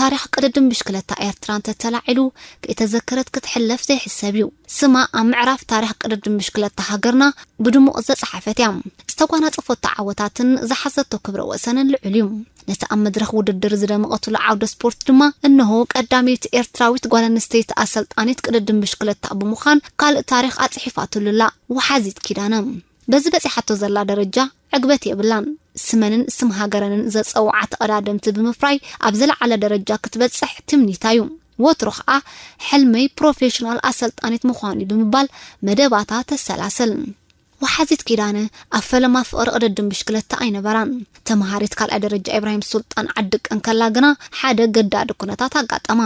ታሪኽ ቅድድም ብሽክለታ ኤርትራ እንተተላዒሉ ከይተዘከረት ክትሕለፍ ዘይሕሰብ እዩ ስማ ኣብ ምዕራፍ ታሪኽ ቅድድም ብሽክለታ ሃገርና ብድሙቕ ዝተጸሓፈት እያ ዝተጓናጸፈቶ ዓወታትን ዝሓዘቶ ክብረ ወሰንን ልዑል እዩ ነቲ ኣብ መድረኽ ውድድር ዝደመቐትሉ ዓውደ ስፖርት ድማ እነሆ ቀዳመይቲ ኤርትራዊት ጓል ኣንስተይቲ ኣሰልጣኒት ቅድድም ብሽክለታ ብምዃን ካልእ ታሪኽ ኣፅሒፋትሉ ኣላ ወሓዚት ኪዳነ። በዚ በፂሓቶ ዘላ ደረጃ ዕግበት የብላን። ስመንን ስም ሃገረንን ዘፀውዓ ተቐዳደምቲ ብምፍራይ ኣብ ዝለዓለ ደረጃ ክትበፅሕ ትምኒታ ዩ። ወትሩ ከዓ ሕልመይ ፕሮፌሽናል ኣሰልጣኒት ምዃን ዩ ብምባል መደባታ ተሰላስል። ወሓዚት ኪዳነ ኣብ ፈለማ ፍቕሪ ቅድድም ብሽክለታ ኣይነበራን። ተመሃሪት ካልኣይ ደረጃ ኢብራሂም ሱልጣን ዓድቀ እንከላ ግና ሓደ ኣገዳዲ ኩነታት ኣጋጠማ።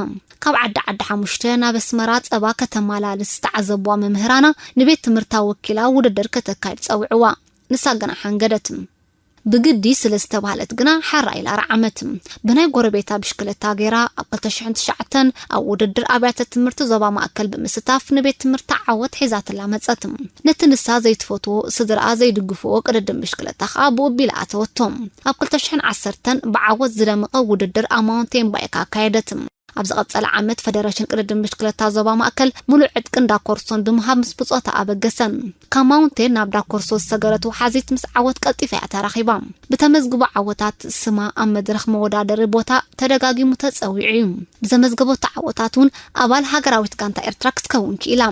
ካብ ዓዲ ዓዲ ሓሙሽተ ናብ ኣስመራ ጸባ ከተመላልስ ዝተዓዘቡዋ መምህራና ንቤት ትምህርታ ወኪላ ውድድር ከተካይድ ጸውዑዋ። ንሳ ግና ሓንገደት። ብግዲ ስለ ዝተባህለት ግና ሓራ ኢላ ረዓመት። ብናይ ጎረቤታ ብሽክለታ ገይራ ኣብ ክልተ ሽሕን ትሽዓተን ኣብ ውድድር ኣብያተ ትምህርቲ ዞባ ማእከል ብምስታፍ ንቤት ትምህርታ ዓወት ሒዛትላ መጸት። ነቲ ንሳ ዘይትፈትዎ፣ ስድራኣ ዘይድግፍዎ ቅድድም ብሽክለታ ከኣ ብኡ ኣቢላ ኣተወቶ። ኣብ ክልተ ሽሕን ዓሰርተን ብዓወት ዝደመቐ ውድድር ኣብ ማውንቴን ባይክ ኣካየደት። ኣብ ዝቐጸለ ዓመት ፈደረሽን ቅድድም ብሽክለታ ዞባ ማእከል ሙሉእ ዕጥቂ እንዳ ኮርሶን ብምሃብ ምስ ብጾታ ኣበገሰ። ካብ ማውንቴን ናብ ዳኮርሶ ዝሰገረት ወሓዚት ምስ ዓወት ቀልጢፋ እያ ተራኺባ። ብተመዝግቦ ዓወታት ስማ ኣብ መድረኽ መወዳደሪ ቦታ ተደጋጊሙ ተጸዊዑ እዩ። ብዘመዝገበቶ ዓወታት እውን ኣባል ሃገራዊት ጋንታ ኤርትራ ክትከውን ክኢላ።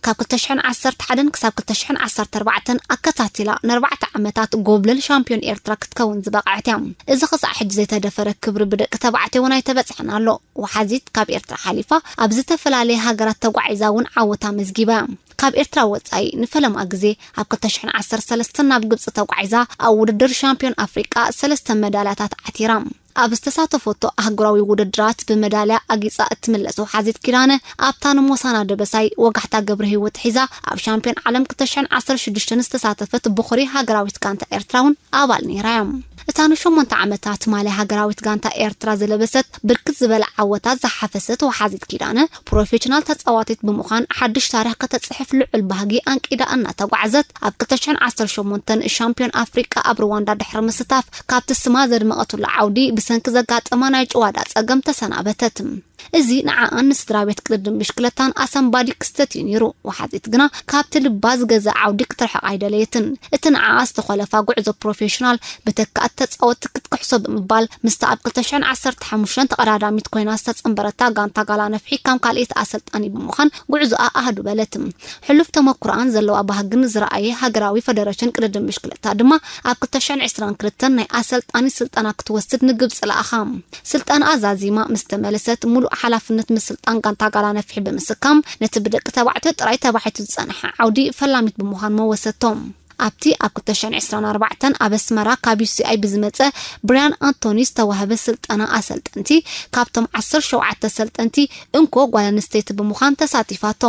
ካብ ክልተ ሽሕን ዓሰርተ ሓደን ክሳብ ክልተ ሽሕን ዓሰርተ ኣርባዕተን ኣከታቲላ ንኣርባዕተ ዓመታት ጎብለል ሻምፕዮን ኤርትራ ክትከውን ዝበቐዐት እያ። እዚ ክሳዕ ሕጂ ዘይተደፈረ ክብሪ ብደቂ ተባዕትዮ እውን ኣይተበጽሐን ኣሎ። ወሓዚት ካብ ኤርትራ ሓሊፋ ኣብ ዝተፈላለየ ሃገራት ተጓዒዛ እውን ዓወት ኣመዝጊባ እያ። ካብ ኤርትራ ወጻኢ ንፈለማ ግዜ ኣብ ክልተ ሽሕን ዓሰርተ ሰለስተን ናብ ግብጺ ተጓዒዛ ኣብ ውድድር ሻምፕዮን ኣፍሪቃ ሰለስተ መዳልያታት ዓቲራ። ኣብ ዝተሳተፈቶ ኣህጉራዊ ውድድራት ብመዳልያ ኣጊጻ እትምለስ ወሓዚት ኪዳነ፣ ኣብታ ንሞሳና ደበሳይ፣ ወጋሕታ ገብረሂወት ሒዛ ኣብ ሻምፕዮን ዓለም ክልተ ሽሕን ዓሰርተ ሽዱሽተን ዝተሳተፈት ቦኹሪ ሃገራዊት ጋንታ ኤርትራ'ውን ኣባል ነይራ'ያ። እታ ንሸሞንተ ዓመታት ማልያ ሃገራዊት ጋንታ ኤርትራ ዝለበሰት ብርክት ዝበለ ዓወታት ዝሓፈሰት ወሓዚት ኪዳነ፣ ፕሮፌሽናል ተጻዋቲት ብምዃን ሓድሽ ታሪኽ ከተጽሕፍ ልዑል ባህጊ ኣንቂዳ እናተጓዕዘት፣ ኣብ ክልተ ሽሕን ዓሰርተ ሸሞንተን ሻምፕዮን ኣፍሪቃ ኣብ ሩዋንዳ ድሕሪ ምስታፍ ካብቲ ስማ ዘድመቐትሉ ዓውዲ ብሰንኪ ዘጋጠማ ናይ ጭዋዳ ጸገም ተሰናበተት። እዚ ንዓኣን ንስድራቤት ቅድድም ብሽክለታን ኣሰንባዲ ክስተት እዩ ነይሩ። ወሓዚት ግና ካብቲ ልባ ዝገዝኣ ዓውዲ ክትርሕቕ ኣይደለየትን። እቲ ንዓኣ ዝተኾለፋ ጉዕዞ ፕሮፌሽናል ብተካእቲ ተጻወትቲ ክትክሕሶ ብምባል ምስታ ኣብ ክልተ ሽሕን ዓሰርተ ሓሙሽተን ተቐዳዳሚት ኮይና ዝተጸንበረታ ጋንታ ጋላ ነፍሒ ከም ካልኤቲ ኣሰልጣኒ ብምዃን ጉዕዞኣ ኣህዱ በለት። ሕሉፍ ተመኩሮኣን ዘለዋ ባህግን ዝረኣየ ሃገራዊ ፈደረሽን ቅድድም ብሽክለታ ድማ ኣብ ክልተ ሽሕን ዕስራን ክልተን ናይ ኣሰልጣኒት ስልጠና ክትወስድ ንግብጺ ለኣኻ። ስልጠናኣ ዛዚማ ምስ ተመለሰት ሙሉእ ሓላፍነት ምስልጣን ጋንታ ጋላ ነፍሒ ብምስካም ነቲ ብደቂ ተባዕትዮ ጥራይ ተባሒቱ ዝጸንሐ ዓውዲ ፈላሚት ብምዃን መወሰቶ። ኣብቲ ኣብ ክልተ ሽሕን ዕስራን ኣርባዕተን ኣብ ኣስመራ ካብ ዩሲኣይ ብዝመጸ ብርያን ኣንቶኒ ዝተዋህበ ስልጠና ኣሰልጠንቲ ካብቶም ዓሰርተ ሸውዓተ ኣሰልጠንቲ እንኮ ጓል ኣንስተይቲ ብምዃን ተሳቲፋቶ።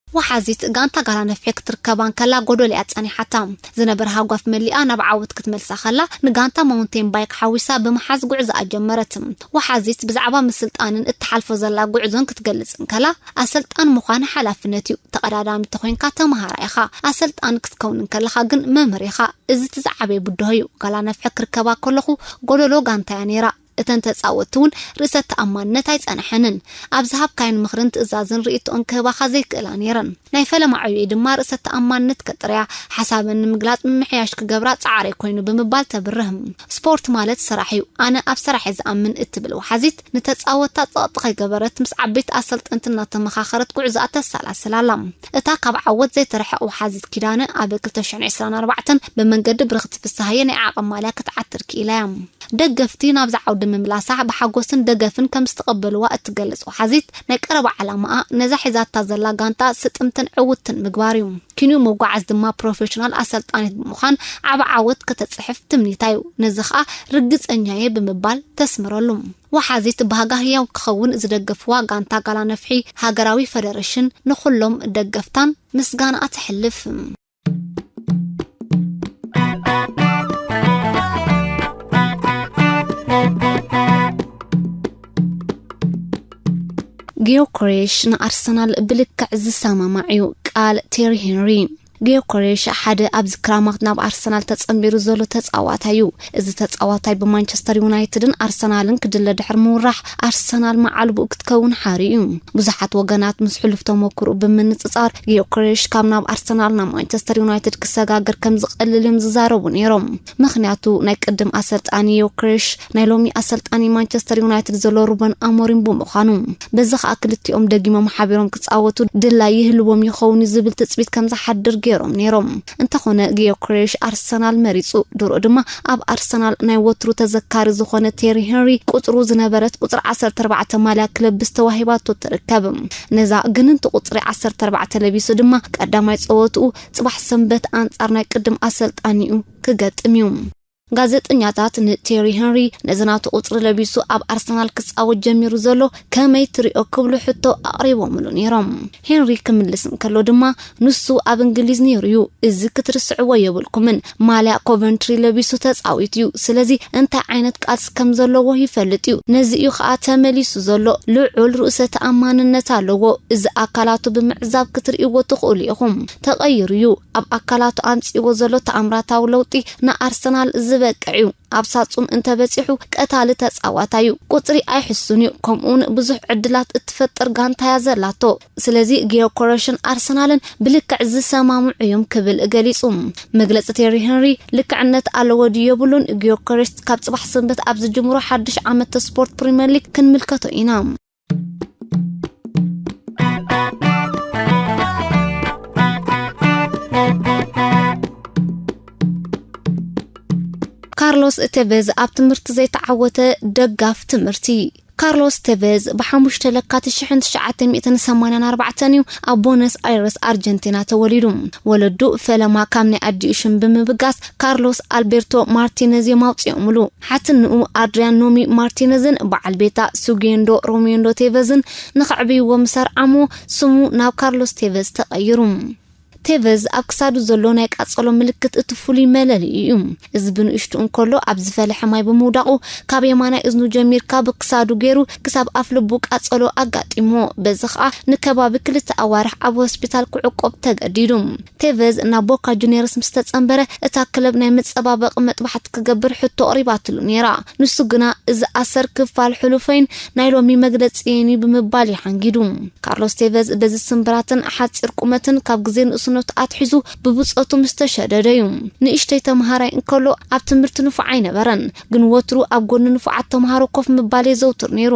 ወሓዚት ጋንታ ጋላ ነፍሒ ክትርከባ እንከላ ጎዶል'ያ ጸኒሓታ። ዝነበረ ሃጓፍ መሊኣ ናብ ዓወት ክትመልሳ ከላ፣ ንጋንታ ማውንቴን ባይክ ሓዊሳ ብምሓዝ ጉዕዞኣ ጀመረት። ወሓዚት ብዛዕባ ምስልጣንን እትሓልፎ ዘላ ጉዕዞን ክትገልጽ እንከላ፣ ኣሰልጣን ምዃን ሓላፍነት'ዩ። ተቐዳዳሚ ተኾይንካ ተመሃራይ ኢኻ። ኣሰልጣን ክትከውን እንከለኻ ግን መምህር ኢኻ። እዚ'ቲ ዝዓበየ ብድሆ'ዩ። ጋላ ነፍሒ ክርከባ ከለኹ ጎዶሎ ጋንታ'ያ ነይራ። እተን ተጻወትቲ እውን ርእሰ ተኣማንነት ኣይጸነሐንን። ኣብ ዝሃብካየን ምኽርን ትእዛዝን ርእይቶኦን ክህባኻ ዘይክእላ ነይረን። ናይ ፈለማ ዕዮይ ድማ ርእሰ ተኣማንነት ከጥርያ፣ ሓሳበን ንምግላጽ ምምሕያሽ ክገብራ ጻዕረይ ኮይኑ ብምባል ተብርህ። ስፖርት ማለት ስራሕ እዩ፣ ኣነ ኣብ ሰራሕ'የ ዝኣምን እትብል ወሓዚት፣ ንተጻወትታ ጸቕጢ ከይገበረት ምስ ዓበይቲ ኣሰልጠንቲ እናተመኻኸረት ጉዕዞኣ ተሰላስል ኣላ። እታ ካብ ዓወት ዘይትርሕቕ ወሓዚት ኪዳነ ኣብ ክልተ ሽሕን ዕስራን ኣርባዕተን ብመንገዲ ብርኽቲ ፍስሃየ ናይ ዓቕን ማልያ ክትዓትር ክኢላ እያ። ደገፍቲ ናብዚ ዓውዲ ምምላሳ ብሓጎስን ደገፍን ከምዝተቐበልዋ እትገልጽ ወሓዚት፣ ናይ ቀረባ ዓላማኣ ነዛ ሒዛታ ዘላ ጋንታ ስጥምትን ዕውትትን ምግባር እዩ። ኪንዮ ምጉዓዝ ድማ ፕሮፌሽናል ኣሰልጣኒት ብምዃን ዓቢ ዓወት ከተጽሕፍ ትምኒታ እዩ። ነዚ ከኣ ርግጸኛ እየ ብምባል ተስምረሉ። ወሓዚት ባህጋ ህያው ክኸውን ዝደገፍዋ ጋንታ ጋላ ነፍሒ ሃገራዊ ፈደረሽን ንኹሎም ደገፍታን ምስጋናኣ ተሕልፍ። ጊዮኮሬሽ ንኣርሰናል ብልክዕ ዝሰማማዕ እዩ ቃል ቴሪ ሄንሪ ግዮከሬሽ ሓደ ኣብዚ ክራማት ናብ ኣርሰናል ተጸንቢሩ ዘሎ ተጻዋታይ'ዩ። እዚ ተጻዋታይ ብማንቸስተር ዩናይትድን ኣርሰናልን ክድለ ድሕሪ ምውራሕ፣ ኣርሰናል መዓልቦኡ ክትከውን ሓር'ዩ። ብዙሓት ወገናት ምስ ሕሉፍ ተመኩርኡ ብምንጽጻር፣ ግዮከሬሽ ካብ ናብ ኣርሰናል ናብ ማንቸስተር ዩናይትድ ክሰጋገር ከምዝቐልል'ዮም ዝዛረቡ ነይሮም። ምኽንያቱ ናይ ቅድም ኣሰልጣኒ ዮክሬሽ ናይ ሎሚ ኣሰልጣኒ ማንቸስተር ዩናይትድ ዘሎ ሩበን ኣሞሪም ብምዃኑ በዚ ከኣ ክልቲኦም ደጊሞም ሓቢሮም ክጻወቱ ድላይ ይህልዎም ይኸውን እዩ ዝብል ትጽቢት ከም ዝሓድር ገይሮም ነይሮም። እንተኾነ ግዮክሬሽ ኣርሰናል መሪጹ። ድሮ ድማ ኣብ ኣርሰናል ናይ ወትሩ ተዘካሪ ዝኾነ ቴሪ ሄንሪ ቁጽሩ ዝነበረት ቁጽሪ ዓሰርተ ኣርባዕተ ማልያ ክለብስ ተዋሂባቶ ትርከብ። ነዛ ግንንቲ ቁጽሪ ዓሰርተ ኣርባዕተ ለቢሱ ድማ ቀዳማይ ጸወትኡ ጽባሕ ሰንበት ኣንጻር ናይ ቅድም ኣሰልጣኒኡ ክገጥም እዩ። ጋዜጠኛታት ንቴሪ ሄንሪ ነዚ ናቱ ቁጽሪ ለቢሱ ኣብ ኣርሰናል ክጻወት ጀሚሩ ዘሎ ከመይ ትሪኦ ክብሉ ሕቶ ኣቕሪቦምሉ ነይሮም። ሄንሪ ክምልስ እንከሎ ድማ ንሱ ኣብ እንግሊዝ ነይሩ እዩ፣ እዚ ክትርስዕዎ የብልኩምን፣ ማልያ ኮቨንትሪ ለቢሱ ተጻዊቱ ዩ ስለዚ እንታይ ዓይነት ቃልሲ ከም ዘለዎ ይፈልጥ ዩ ነዚ ዩ ከኣ ተመሊሱ ዘሎ ልዑል ርእሰ ተኣማንነት ኣለዎ እዚ ኣካላቱ ብምዕዛብ ክትርእይዎ ትኽእሉ ኢኹም ተቐይሩ ዩ ኣብ ኣካላቱ ኣምጺእዎ ዘሎ ተኣምራታዊ ለውጢ ንኣርሰናል ዝበቅዕ ዩ ኣብ ሳጹን እንተበጺሑ ቀታሊ ተጻዋታይ ዩ ቁጽሪ ኣይሕሱን ዩ ከምኡውን ብዙሕ ዕድላት እትፈጥር ጋንታ እያ ዘላቶ ስለዚ ግዮኮረሽን ኣርሰናልን ብልክዕ ዝሰማምዑ እዮም ክብል ገሊጹ። መግለጺ ቴሪ ሄንሪ ልክዕነት ኣለዎ ድዩ የብሉን፣ ግዮኮረሽት ካብ ጽባሕ ሰንበት ኣብ ዝጅምሮ ሓድሽ ዓመት ስፖርት ፕሪምየር ሊግ ክንምልከቶ ኢና። ካርሎስ እቴቬዝ ኣብ ትምህርቲ ዘይተዓወተ ደጋፍ ትምህርቲ ካርሎስ ተቨዝ ብሓሙሽተ ለካቲት ሽሕን ትሽዓተ ሚእትን ሰማንያን ኣርባዕተን እዩ ኣብ ቦነስ ኣይረስ ኣርጀንቲና ተወሊዱ። ወለዱ ፈለማ ካብ ናይ ኣዲኡ ሽም ብምብጋስ ካርሎስ ኣልቤርቶ ማርቲነዝ እዮም ኣውጺኦምሉ። ሓትንኡ ኣድርያን ኖሚ ማርቲነዝን በዓል ቤታ ሱጌንዶ ሮሜንዶ ቴቨዝን ንኸዕብይዎ ምስ ኣርዓምዎ ስሙ ናብ ካርሎስ ቴቨዝ ተቐይሩ። ቴቨዝ ኣብ ክሳዱ ዘሎ ናይ ቃጸሎ ምልክት እቲ ፍሉይ መለልዩ እዩ። እዚ ብንእሽቱ እንከሎ ኣብ ዝፈለሐ ማይ ብምውዳቑ ካብ የማናይ እዝኑ ጀሚርካ ብክሳዱ ገይሩ ክሳብ ኣፍልቡ ቃጸሎ ኣጋጢምዎ። በዚ ከኣ ንከባቢ ክልተ ኣዋርሕ ኣብ ሆስፒታል ክዕቆብ ተገዲዱ። ቴቨዝ ናብ ቦካ ጁንየርስ ምስ ተጸንበረ እታ ክለብ ናይ መጸባበቒ መጥባሕቲ ክገብር ሕቶ ኣቕሪባትሉ ነይራ። ንሱ ግና እዚ ኣሰር ክፋል ሕሉፈይን ናይ ሎሚ መግለጺየይን እዩ ብምባል እዩ ሓንጊዱ። ካርሎስ ቴቨዝ በዚ ስምብራትን ሓጺር ቁመትን ካብ ግዜ ንእስነቱ ኣትሒዙ ብብጾቱ ምስ ተሸደደ እዩ። ንእሽተይ ተመሃራይ እንከሎ ኣብ ትምህርቲ ንፉዕ ኣይነበረን፣ ግን ወትሩ ኣብ ጎኒ ንፉዓት ተመሃሮ ኮፍ ምባል የዘውትር ነይሩ።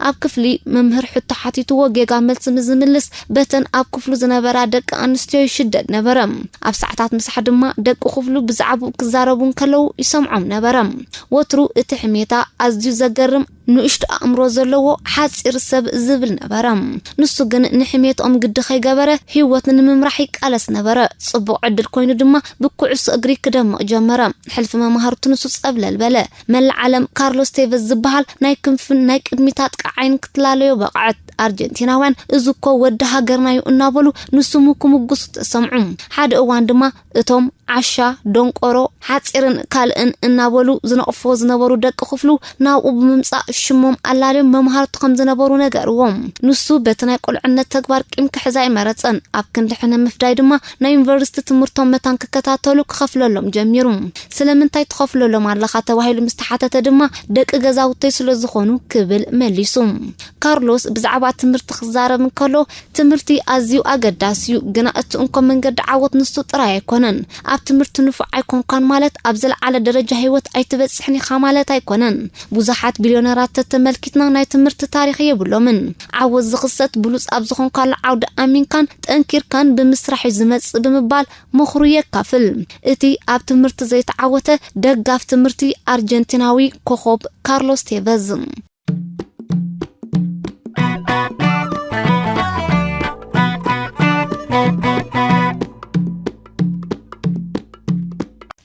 ኣብ ክፍሊ መምህር ሕቶ ሓቲትዎ ጌጋ መልሲ ምስ ዝምልስ በተን ኣብ ክፍሉ ዝነበራ ደቂ ኣንስትዮ ይሽደድ ነበረ። ኣብ ሰዓታት ምሳሕ ድማ ደቂ ክፍሉ ብዛዕብኡ ክዛረቡ እንከለዉ ይሰምዖም ነበረ። ወትሩ እቲ ሕሜታ ኣዝዩ ዘገርም ንእሽቶ ኣእምሮ ዘለዎ ሓጺር ሰብ ዝብል ነበረ። ንሱ ግን ንሕሜትኦም ግዲ ከይገበረ ህይወት ንምምራሕ ይቃለስ ነበረ። ጽቡቕ ዕድል ኮይኑ ድማ ብኩዕሶ እግሪ ክደምቕ ጀመረ። ሕልፊ መማህርቱ ንሱ ጸብለል በለ። መላእ ዓለም ካርሎስ ቴቨዝ ዝበሃል ናይ ክንፍን ናይ ቅድሚት ኣጥቃዓይን ክትላለዮ በቕዐት። ኣርጀንቲናውያን እዚ እኮ ወዲ ሃገርና'ዩ እናበሉ ንስሙ ክምጉሱ ተሰምዑ። ሓደ እዋን ድማ እቶም ዓሻ፣ ደንቆሮ፣ ሓጺርን ካልእን እናበሉ ዝነቕፍዎ ዝነበሩ ደቂ ክፍሉ ናብኡ ብምምጻእ ሽሞም ኣላልዮም መምሃርቱ ከም ዝነበሩ ነገርዎ። ንሱ በቲ ናይ ቁልዕነት ተግባር ቂም ክሕዝ ኣይመረጸን። ኣብ ክንዲ ሕነ ምፍዳይ ድማ ናይ ዩኒቨርሲቲ ትምህርቶም መታን ክከታተሉ ክኸፍለሎም ጀሚሩ። ስለምንታይ ትኸፍለሎም ኣለኻ ተባሂሉ ምስ ተሓተተ ድማ ደቂ ገዛውተይ ስለ ዝኾኑ ክብል መሊሱ። ካርሎስ ብዛዕባ ትምህርቲ ክዛረብ እንከሎ ትምህርቲ ኣዝዩ ኣገዳሲ'ዩ፣ ግና እቲ እንኮ መንገዲ ዓወት ንሱ ጥራይ ኣይኮነን። ኣብ ትምህርቲ ንፉዕ ኣይኮንካን ማለት ኣብ ዝለዓለ ደረጃ ህይወት ኣይትበጽሕን ኢኻ ማለት ኣይኮነን። ብዙሓት ቢልዮነራት ተተመልኪትና ናይ ትምህርቲ ታሪኽ የብሎምን። ዓወት ዝኽሰት ብሉጽ ኣብ ዝኾንካሉ ዓውዲ ኣሚንካን ጠንኪርካን ብምስራሕ'ዩ ዝመጽእ ብምባል ምኽሩ የካፍል እቲ ኣብ ትምህርቲ ዘይተዓወተ ደጋፍ ትምህርቲ ኣርጀንቲናዊ ኮኾብ ካርሎስ ቴቨዝ።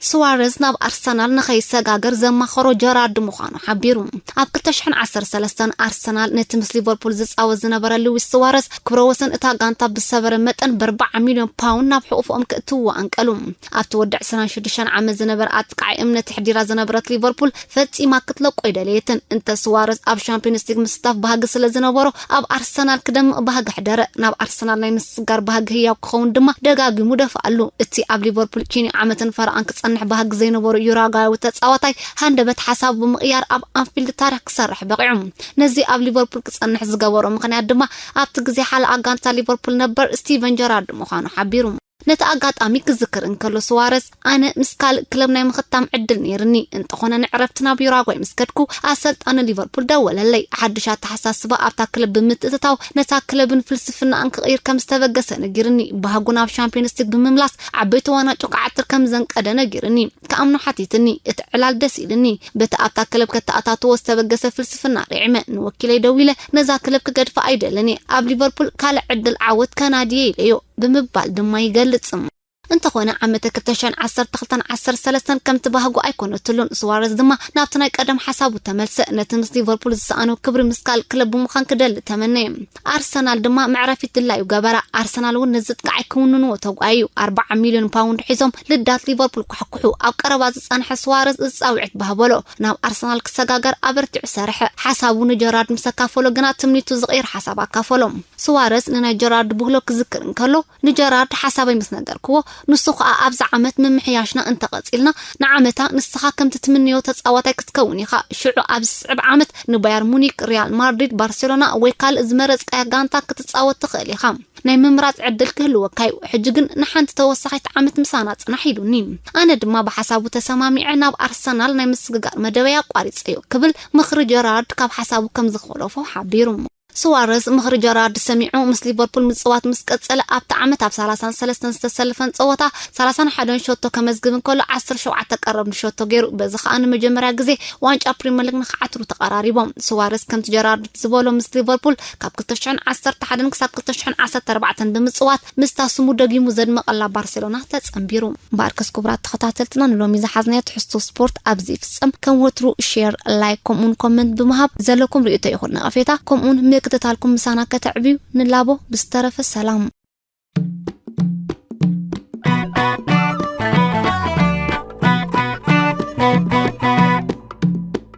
ስዋረዝ ናብ ኣርሰናል ንኸይሰጋገር ዘማኸሮ ጀራርድ ምዃኑ ሓቢሩ። ኣብ 2013 ኣርሰናል ነቲ ምስ ሊቨርፑል ዝጻወት ዝነበረ ሉዊስ ስዋረዝ ክብረ ወሰን እታ ጋንታ ብዝሰበረ መጠን ብ40 ሚልዮን ፓውንድ ናብ ሕቑፎኦም ክእትውዎ ኣንቀሉ። ኣብቲ ወዲ 26 ዓመት ዝነበረ ኣጥቃዒ እምነት ኣሕዲራ ዝነበረት ሊቨርፑል ፈጺማ ክትለቆ ኣይደለየትን። እንተ ስዋረዝ ኣብ ሻምፕዮንስ ሊግ ምስታፍ ባህጊ ስለ ዝነበሮ ኣብ ኣርሰናል ክደምቕ ባህጊ ኣሕደረ። ናብ ኣርሰናል ናይ ምስግጋር ባህጊ ህያው ክኸውን ድማ ደጋጊሙ ደፍኣሉ። እቲ ኣብ ሊቨርፑል ኪንዮ ዓመትን ፈረቓን ክጸንሕ ባህጊ ዘይነበሮ ዩራጓያዊ ተጻዋታይ፣ ሃንደበት ሓሳቡ ብምቕያር ኣብ ኣንፊልድ ታሪኽ ክሰርሕ በቒዑ። ነዚ ኣብ ሊቨርፑል ክጸንሕ ዝገበሮ ምኽንያት ድማ ኣብቲ ግዜ ሓላኣ ጋንታ ሊቨርፑል ነበር ስቲቨን ጀራርድ ምዃኑ ሓቢሩ። ነቲ ኣጋጣሚ ክዝክር እንከሎ ስዋረዝ ኣነ ምስ ካልእ ክለብ ናይ ምኽታም ዕድል ነይርኒ፣ እንተኾነ ንዕረፍቲ ናብ ዩራጓይ ምስ ከድኩ ኣሰልጣኒ ሊቨርፑል ደወለለይ፣ ሓዱሽ ኣተሓሳስባ ኣብታ ክለብ ብምትእትታው ነታ ክለብን ፍልስፍናኣን ክቕይር ከም ዝተበገሰ ነጊርኒ፣ ባህጉ ናብ ሻምፕዮንስ ሊግ ብምምላስ ዓበይቲ ዋናጩ ክዓትር ከም ዘንቀደ ነጊርኒ። ክኣምኖ ሓቲትኒ እቲ ዕላል ደስ ኢልኒ በቲ ኣብታ ክለብ ከተኣታትዎ ዝተበገሰ ፍልስፍና ርዒመ ንወኪለይ ደዊለ ነዛ ክለብ ክገድፋ ኣይደልን እየ ኣብ ሊቨርፑል ካልእ ዕድል ዓወት ከናዲ እየ ኢለዮ ብምባል ድማ ይገልጽ። እንተኾነ ዓመተ ክልተ ሽሕን ዓሰርተ ክልተን ዓሰርተ ሰለስተን ከምቲ ባህጉ ኣይኮነትሉን፣ ሱዋረዝ ድማ ናብቲ ናይ ቀደም ሓሳቡ ተመልሰ፣ ነቲ ምስ ሊቨርፑል ዝሰኣኖ ክብሪ ምስ ካልእ ክለብ ብምዃን ክደሊ ተመነየ። ኣርሰናል ድማ መዕረፊት ድላዩ ገበረ። ኣርሰናል እውን ነዚ ጥቃዓይ ክውንንዎ ተጓየዩ። ኣርብዓ ሚልዮን ፓውንድ ሒዞም ልዳት ሊቨርፑል ኳሕኩሑ። ኣብ ቀረባ ዝጸንሐ ስዋረዝ እዚ ጻውዒት በሃበሎ። ናብ ኣርሰናል ክሰጋገር ኣበርቲዑ ሰርሐ። ሓሳቡ ንጀራርድ ምስ ኣካፈሎ ግና ትምኒቱ ዝቕይር ሓሳብ ኣካፈሎ። ስዋረዝ ንናይ ጀራርድ ብህሎ ክዝክር እንከሎ፣ ንጀራርድ ሓሳበይ ምስ ነገርክዎ፣ ንሱ ኸኣ ኣብዚ ዓመት ምምሕያሽና እንተ ቐጺልና፣ ንዓመታ ንስኻ ከምቲ ትምነዮ ተጻዋታይ ክትከውን ኢኻ፣ ሽዑ ኣብ ዝስዕብ ዓመት ንባየር ሙኒክ፣ ሪያል ማድሪድ፣ ባርሴሎና ወይ ካልእ ዝመረጽካያ ጋንታ ክትጻወት ትኽእል ኢኻ። ናይ ምምራጽ ዕድል ክህልወካ'ዩ። ሕጂ ግን ንሓንቲ ተወሳኺት ዓመት ምሳና ጽናሕ ኢሉኒ። ኣነ ድማ ብሓሳቡ ተሰማሚዐ ናብ ኣርሰናል ናይ ምስግጋር መደበይ ኣቋሪጸዮ ክብል ምኽሪ ጀራርድ ካብ ሓሳቡ ከም ዝዀለፎ ሓቢሩ። ሱዋረዝ ምኽሪ ጀራርድ ሰሚዑ ምስ ሊቨርፑል ምጽዋት ምስ ቀጸለ ኣብቲ ዓመት ኣብ ሰላሳን ሰለስተን ዝተሰለፈን ጸወታ ሰላሳን ሓደን ሸቶ ከመዝግብ እንከሎ ዓሰርተ ሸውዓተ ቀረብ ንሸቶ ገይሩ በዚ ከኣ ንመጀመርያ ግዜ ዋንጫ ፕሪመር ሊግ ንክዓትሩ ተቐራሪቦም ሱዋረዝ ከምቲ ጀራርድ ዝበሎ ምስ ሊቨርፑል ካብ ክልተ ሽሕን ዓሰርተ ሓደን ክሳብ ክልተ ሽሕን ዓሰርተ ኣርባዕተን ብምጽዋት ምስታ ስሙ ደጊሙ ዘድመቐላ ባርሴሎና ተጸንቢሩ። እምበኣርከስ ክቡራት ተኸታተልትና ንሎሚ ዝሓዝናዮ ትሕዝቶ ስፖርት ኣብዚ ይፍጸም። ከም ወትሩ ሼር፣ ላይክ ከምኡውን ኮመንት ብምሃብ ዘለኩም ርእይቶ ይኹን ነቐፌታ ከምኡውን ምክትታልኩም ምሳና ከተዕብዩ ንላቦ። ብዝተረፈ ሰላም።